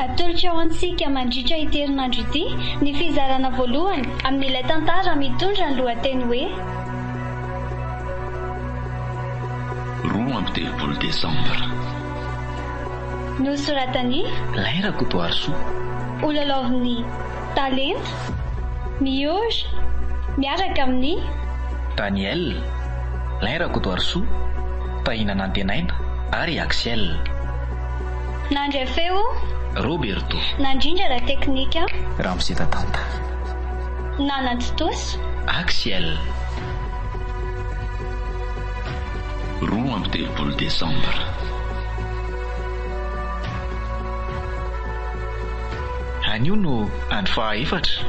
Atolotro ho antsika mandritra ity herinandro ity ny fizarana voalohany amin'ilay tantara mitondra ny lohateny hoe Roa amby telopolo Desambra. Nosoratan'i. Lahy Rakotoarisoa. Ho lalaovin'i. Talenta, Mihory, miaraka amin'ny. Daniel, Lain Rakotoarisoa, Tahina Nantenaina ary Axiel. Nandray feo, Roberto. Nandrindra ara teknika. Ramose Tatanta. Nanantontosa. Axiel. Roa amby telopolo desambra. Anio no andro faha efatra.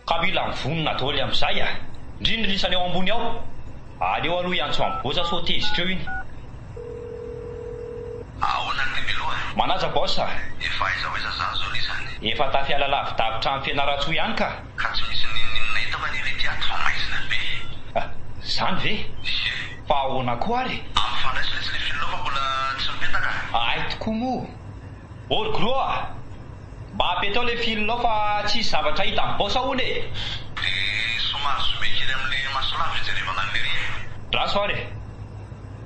Ka mila mivonona doly amizay a! Ndry ny lisany ao ambony ao! Aleo aloha hiantso an'i boss sao tezitra eo iny. Ahoana ry Miloha? Manaja boss a! Efa aiza ho aiza zany zao lisany? Efa tafiala lavidavitra any Fianarantsoa ihany ka! Ka tsy misy n'inon'inona eto anie ry Piato fa maizina be e! Ah! Zany ve? Hie! Fa ahoana koa ary? Ampifandraiso lesy le fil-nao fa mbola tsy mipetaka a! Ahay tokoa moa! Or Gro a! Mba apetaho le fil-nao fa tsy hisy zavatra hita am boss hono e! De somary zomehy kely amle maso lava ijerevana anle ry e! Draso ary e!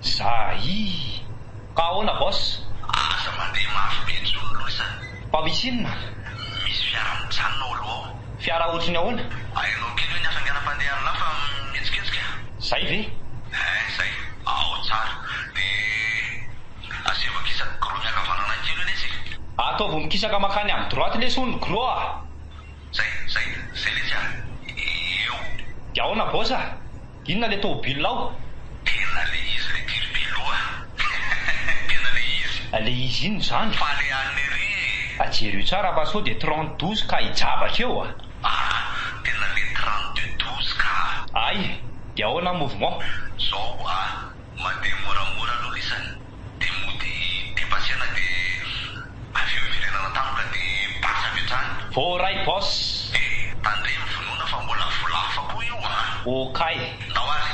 Zahii! Ka ahoana boss? Aza mandeha mafy be intsony loza. Fa misy inona? Misy fiara mijanona ao aloha ao. Fiara ohatry ny ahoana? Hainao kely hoe ny hafainganam-pandeha an'i Lafa mihetsiketsika? Zay ve? Hein zay. Ao tsara. De asevo ankisaky gros miankavanana any kely hoe letsy e. Ataovy mikisaka makany amin'ny droite lesy hono gros a. Zay, zay, zay letsy a. Eo. De ahoana boss a? Inona le tôbila ao? Tena le izy le Tirpilo a! Tena le izy! Le izy inona izany? Faly alina ery e! A jereo tsara fa sao dia trente douze ka hijabaka eo a! Aa! Tena le trente deux douze ka! Ay! Dia ahoana ny mouvement? Zao a! Mandeha moramora aloha lisany. Dia mody be pasiana dia avy eo hiverenana tampoka dia basy avy hatrany. Voaray boss. Eh! Tandremo vonoina fa mbola vola hafa koa io an! Okay. Ndao ary.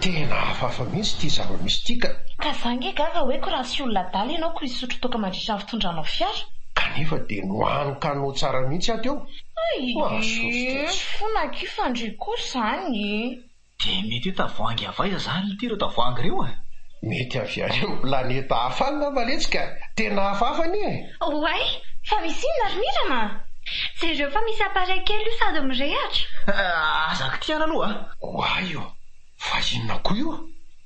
Tena hafahafa mihitsy ity zava-misy ity ka! Ka za nge gaga hoe ko raha tsy olona adala ianao ko hisotro toaka mandritra ny fitondranao fiara? Kanefa dia nohaniko anao tsara mihitsy aho teo! Mahasosotra tsy. Fona akia fandria koa zany e! Dia mety hoe tavoahangy avy aiza izany ity ireo tavoahangy ireo e? Mety avy any amin'ny planeta hafa any angamba letsy ka! Tena hafahafa anie e! Oay! Fa misy inona ry Mirana a! Jereo fa misy appareil kely io sady mirehatra! Aza kitihana aloha a! Oay ô! Fa inona koa io?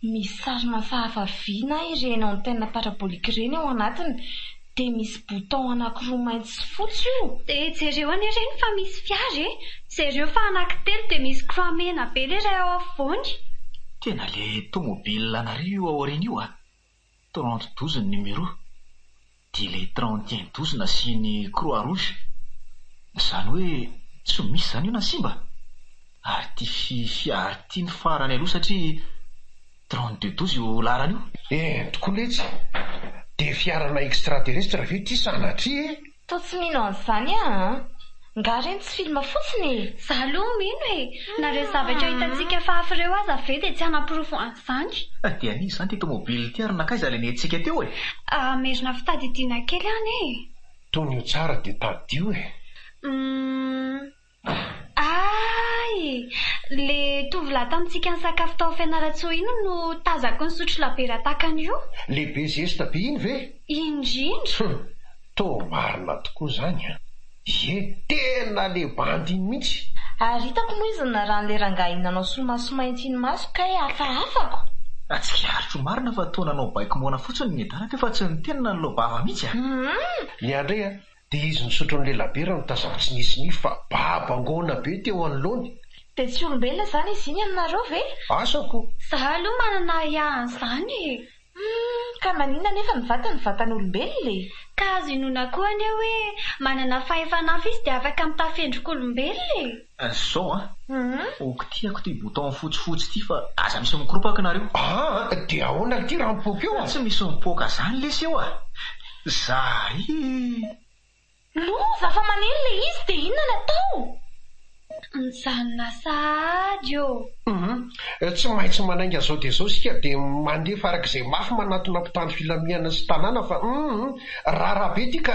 Misy sary mafahafa vy na ireny antenne parabolique ireny ao anatiny. Dia misy bouton anakiroa mainty sy fotsy io. Dia jereo anie reny fa misy fiara e! Jereo fa anakitelo dia misy croix mena be le iray ao afovoany. Tena le tomobile anareo io aoriana io a! Trente douze ny numéro, dia le trente et un douze nasiany croix rouge. Zany hoe tsy misy zany io na simba? Ary ty fi fiara ty no farany aloha satria. Drone de douze io laharana io? Eh tokony letsy, dia fiarana extraterrestre ve ity sanatria e? Toa tsy mino an'izany aho an! Ngah reny tsy film fotsiny e! Za aloha mino e! Na reo zavatra hitantsika fahafy reo aza ve dia tsy hanaporofo an'izany? Fa dia an'iza izany ity tomobily ity ary nankaiza ilay nentintsika teo e? Ah merina fitadidiana kely an e! Tonio tsara dia tadio e! Umm. Aay! Le tovolahy tamintsika nisakafo tao Fianarantsoa iny no tazako nisotro labiera tahaka an'io. Le be zesta be iny ve? Indrindra! Hum! Toa marina tokoa izany an! Ie, tena le bandy iny mihitsy! Ary hitako moa izy niraràny le rangahy iny nanao solomaso mainty iny maso kay hafahafako! Natsikariko marina fa toa nanao baiko moana fotsiny ny Dada teo fa tsy niteny na nilao vava mihitsy an! Hum! Miandry an! Dia izy nisotro an'ilay labiera no tazako tsy nisy nify fa babo angona be teo anoloany. Dia tsy olombelona izany izy iny aminareo ve? Asako. Za aloha manana ahiahy an'izany e! Humm! Ka maninona anefa ny vatany vatan'olombelona e? Ka azo inoana koa anie hoe manana fahefa-nafo izy dia afaka mitafy endrik'olombelona e! Azy zao a! Ok tiako ty bouton fotsifotsy ty fa aza misy mikoropaka nareo. Aa de ahoana ity raha mipoaka eo a? Tsy misy mipoaka zany lesy eo a! Zary! Lova fa manery le izy de inona ny atao? Mijanona sahady ô! Hum tsy maintsy manainga zao de zao sika de mandefa arak'izay mafy manatona mpitandro filamihana sy tanàna fa hum rara be ty ka!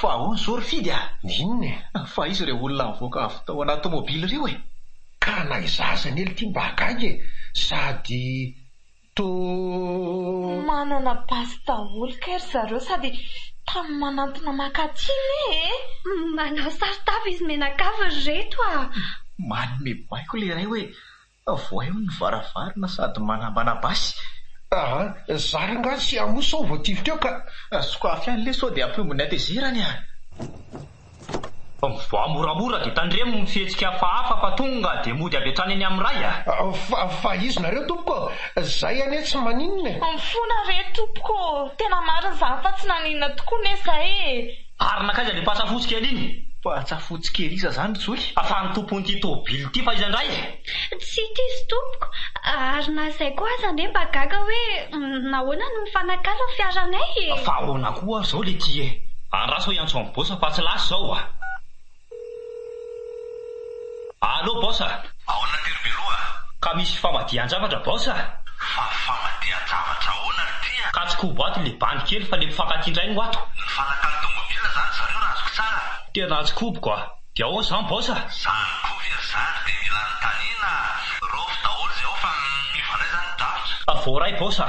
Fa ahoana izao ry Fidy a? Inona e? Fa iza ireo olona nivoaka avy tao anaty tomobily ireo e? Ka na izaho aza anely ity mba gaga e! Sady toa. Manana basy daholo kay ry zareo sady tany manantona maka aty ne e! Manao saron-tava izy mianakavy ry reto a! Manome baiko ilay iray hoe Avoaio ny varavarana sady manambana basy. Aa! zara angaha tsy hamoa sao voatifitra eo ka! Sokafy any le sao dia hampihombo ny hatezerany a! Mivoaha moramora dia tandremo ny fihetsika hafahafa fa tonga dia mody avy hatrany eny amin'ny ray a! Fa, fa izy nareo tompoko ô! Zay anie tsy maninona e! Mifona re tompoko ô! Tena marina izany fa tsy naninona tokoa ne zay e! Ary nankaiza le patsa fotsy kely iny? Patsa fotsy kely iza zany ry zoky? Fa ny tompon'ity tôbily ity fa iza indray? Tsy diso tompoko, ary na izay koa aza anie mba gaga hoe nahoana no mifanakalo ny fiaranay e! Fa ahoana koa ary izao le ty e! Andraso aho hiantso an'i Boss fa tsy lasa izao a! Allo Boss a! Aona Ntery Beloha a! Ka misy famadihan-javatra Boss a! Fa famadihan-javatra aona no ty a! Ka tsy kobo ato le bandy kely fa le mpifankatia indray no ato! Nifanakalo tomobila zany zareo raha azoko tsara a! Tena tsy koboko a! De aona zany Boss a! Zany koa ve ry zandry de mila anontaniana a! Raofy daholo zay ao fa miova indray zany ny drafitra! Voaray Boss a!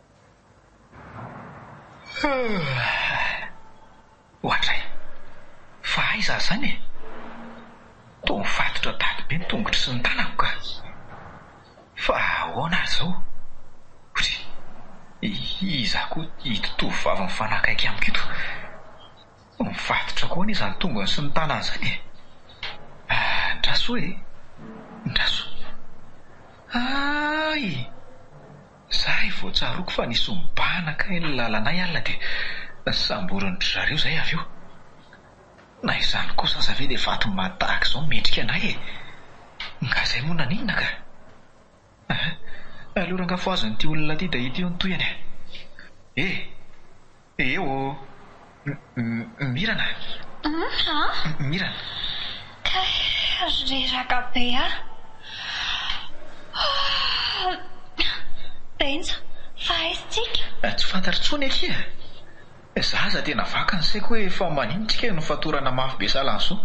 Ohatra e! Fa aiza aza zany e! Toa mifatotra daty be ny tongotro sy ny tanako ka! Fa ahoana ary zao? Ory! Iza koa ito tovovavy mifanakaiky amiko ito? Mifatotra koa anie zany tongony sy ny tanany zany e! Andraso e! Andraso! Aaiy! Zay vao tsaroako fa nisombana kay ny lalanay alina dia samborin dry zareo zay avy eo. Na izany kosa aza ve dia vato maty tahaka izao mendrika anay e! Nga zay moa naninona ka? Ahaa, aleo ranga foaziny ity olona ity dia ity hono tohiny e! Eo ô! Mirana! Mirana! Kay reraka be a! Benja, fa aiza tsika? Tsy fantatra tsony akia! Za aza tena vaky ny saiko hoe fa manino tsika no fatorana mafy be salan'i Zo?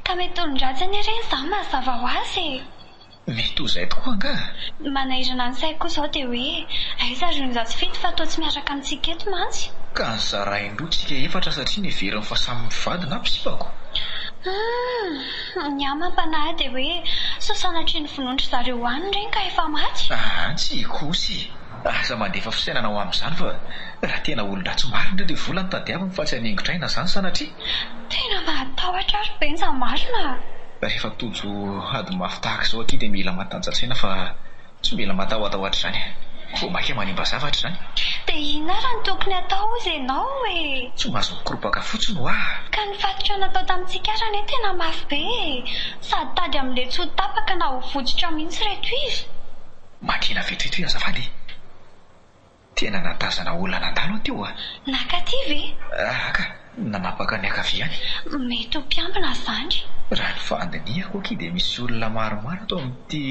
Ka mety olon-dratsy anie reny za mazava ho azy e! Mety ho izay tokoa angaha? Ny manahirana ny saiko kosa izao dia hoe, aiza ry onja tsy fito fa toa tsy miaraka amintsika eto mantsy? Ka nozarain-droa tsika efatra satria neveriny fa samy mivady na mpisipako? Humm! Ny ahy mampanahy ahy dia hoe, sao sanatria novonoin-dry zareo any ireny ka efa maty? Ahaa, tsy hikoa osa e! Aza mandefa fisainana ho amin'izany fa raha tena olon-dratsy marina ilay vola no tadiaviny fa tsy haningotraina izany sanatria. Tena mahatahotra ary benja marina a! Rehefa tojo ady mafy tahaka izao akia dia mila mataja-tsaina fa tsy mila matahotahota izany. Vao maika manimba zavatra izany. Dia inona ary no tokony atao hozy ianao e? Tsy mahazo mikoropaka fotsiny ho'a. Ka ny fatotra natao tamintsika ary anie tena mafy be e! Sady tady amin'ilay tsy ho tapaka na ho votsotra mihitsy ireto izy. Makina vetivety ve azafady e! Tena nahatazana olona nandalo aho teo a! Naka aty ve? Aah ka! Nanapaka niankavia any. Mety ho mpiambina izany. Raha ny fandinihako akia dia misy olona maromaro ato amin'ity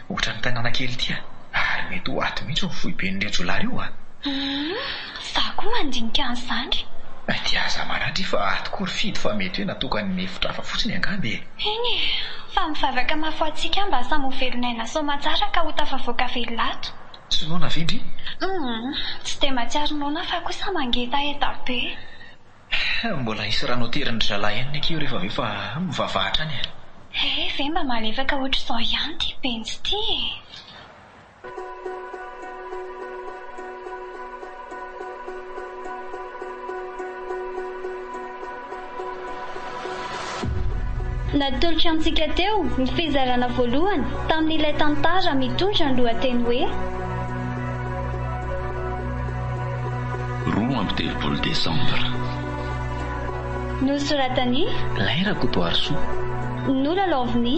ohatran'ny tanàna kely ity a! Ary mety ho ato mihitsy ny foiben'ireo jiolahy ireo a! Humm! Za koa mandinika an'zany. Dia aza maratra fa ato koa ry fido fa mety hoe natokan'ny mefitra hafa fotsiny angamba e. Eny e, fa mivavaka mafy ho antsika aho mba samy ho velon'aina soamantsara ka ho tafavoaka velona ato. Tsy noana ve ndry? Humm, tsy dia mahatsiaro noana fa kosa mangetaheta be. Mbola hisy rano aterin'ny ry zalahy ihany ny aky io rehefa avy eo fa mivavaha hatrany e. He ve mba malefaka ohatr'izao ihany ty benjy ty e. Natolotry antsika teo ny fizarana voalohany tamin'ilay tantara mitondra ny lohateny hoe Roa amby telopolo Desambra. Nosoratan'i. Lahy Rakotoarisoa. Nolalaovin'i.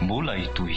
Mbola hitohy.